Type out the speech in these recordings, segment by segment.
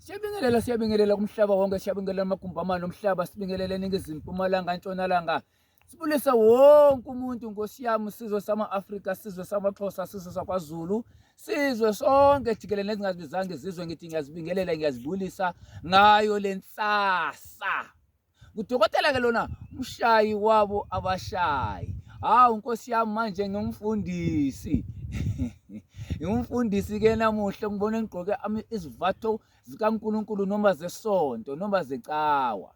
Siyabingelela siyabingelela kumhlaba wonke siyabingelela amagumbi amane omhlaba sibingelela eningizimu mpumalanga ntshonalanga sibulise wonke umuntu nkosi yami sizwe sama-afrika sizwe samaxhosa sizwe sakwazulu sizwe sonke jikelele nezingazibizanga izizwe ngithi ngiyazibingelela ngiyazibulisa ngayo le nsasa Ngudokotela ke lona umshayi wabo abashayi. Hawu Nkosi yami manje ngimfundisi. Ngimfundisi ke namuhla ngibona ngigqoke izivatho zikaNkuluNkulu noma zesonto noma zecawa.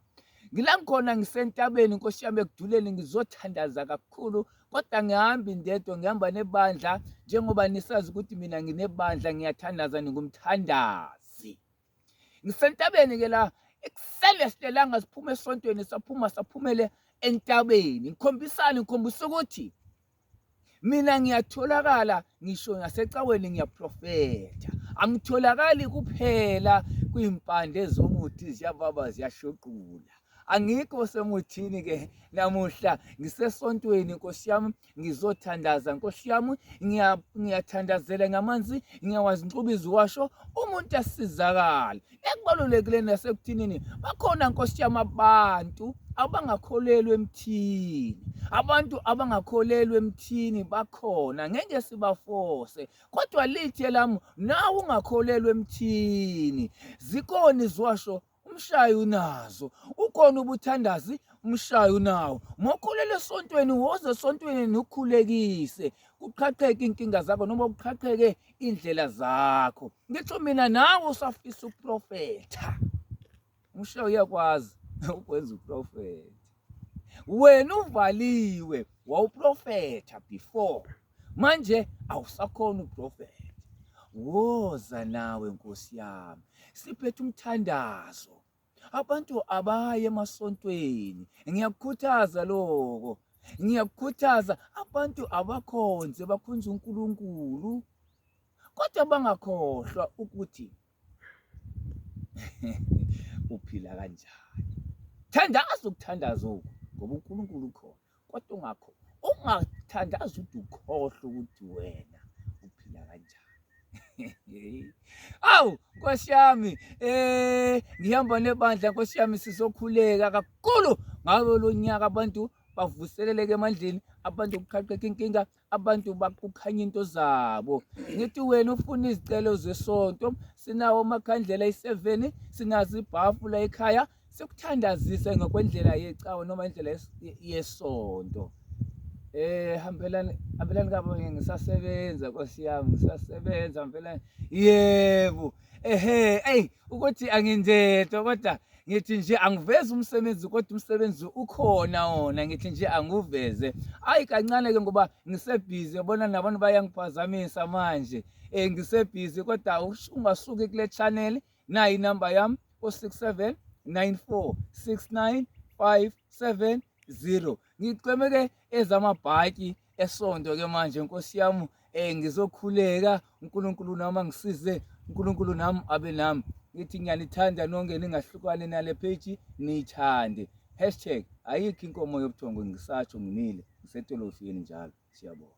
Ngila ngikhona ngisentabeni Nkosi yami ekuduleni ngizothandaza kakhulu kodwa ngihambi ndedwa ngihamba nebandla njengoba nisazi ukuthi mina nginebandla ngiyathandaza ningumthandazi. Ngisentabeni-ke la ekuseni esilelanga siphuma esontweni saphuma saphumele entabeni ngikhombisani ngikhombisa ukuthi mina ngiyatholakala ngisho nasecaweni ngiyaprofetha angitholakali kuphela kwimpande zomuthi ziyababa ziyashoqula angikho semuthini-ke namuhla ngisesontweni nkosi yami ngizothandaza nkosi yami ngiyathandazela ngamanzi ngiyawazi ngixuba iziwasho umuntu asizakale ekubalulekile nasekuthinini bakhona nkosi yami abantu abangakholelwa emthini abantu abangakholelwa emthini bakhona ngeke sibafose kodwa lithe lami nawe ungakholelwa emthini zikoni ziwasho umshayi unazo ukhona ubuthandazi umshayi unawo mokholele esontweni woze esontweni nukhulekise kuqhaqheke inkinga zakho noma kuqhaqheke indlela zakho ngitho mina nawe usafisa uprofetha umshayi uyakwazi ukwenza uprofetha wena uvaliwe wawuprofetha before manje awusakhona uprofetha woza nawe nkosi yami siphethe umthandazo abantu abaye emasontweni ngiyakukhuthaza lokho ngiyakukhuthaza abantu abakhonze bakhonze uNkulunkulu kodwa bangakhohlwa ukuthi uphila kanjani thandaza ukuthandaza oku ngoba uNkulunkulu ukhona kodwa ungakho ungathandaza ukuthi ukhohlwe ukuthi wena uphila kanjani awu nkosi yami um ngihamba nebandla nkosi yami sizokhuleka kakhulu ngawo lo nyaka abantu bavuseleleke emandleni abantu kuqhaqeka inkinga abantu bakukhanya into zabo ngithi wena ufuna izicelo zesonto sinawo amakhandlela iseveni sinazo ibhafu la ekhaya sikuthandazise ngokwendlela yecawa noma indlela yesonto eh hambelani hambelani kabo ngisasebenza nkosi yami ngisasebenza hambelani yebo ehe ey ukuthi angindedwa kodwa ngithi nje angiveze umsebenzi kodwa umsebenzi ukhona wona ngithi nje anguveze ayi kancane ke ngoba ngisebhizi yabona nabantu bayangiphazamisa manje um ngisebhizi kodwa ungasuki kule channel nayi inamba yami o-six seven nine four six nine five seven zero ngicweme-ke ezamabhaki esonto ke manje nkosi yami eh ngizokhuleka uNkulunkulu nami angisize uNkulunkulu nami abe nami ngithi ngiyanithanda nonke ningahlukane nale page niyithande hashtag ayikho inkomo yobuthongo ngisatsho ngimile ngisetolofini njalo siyabonga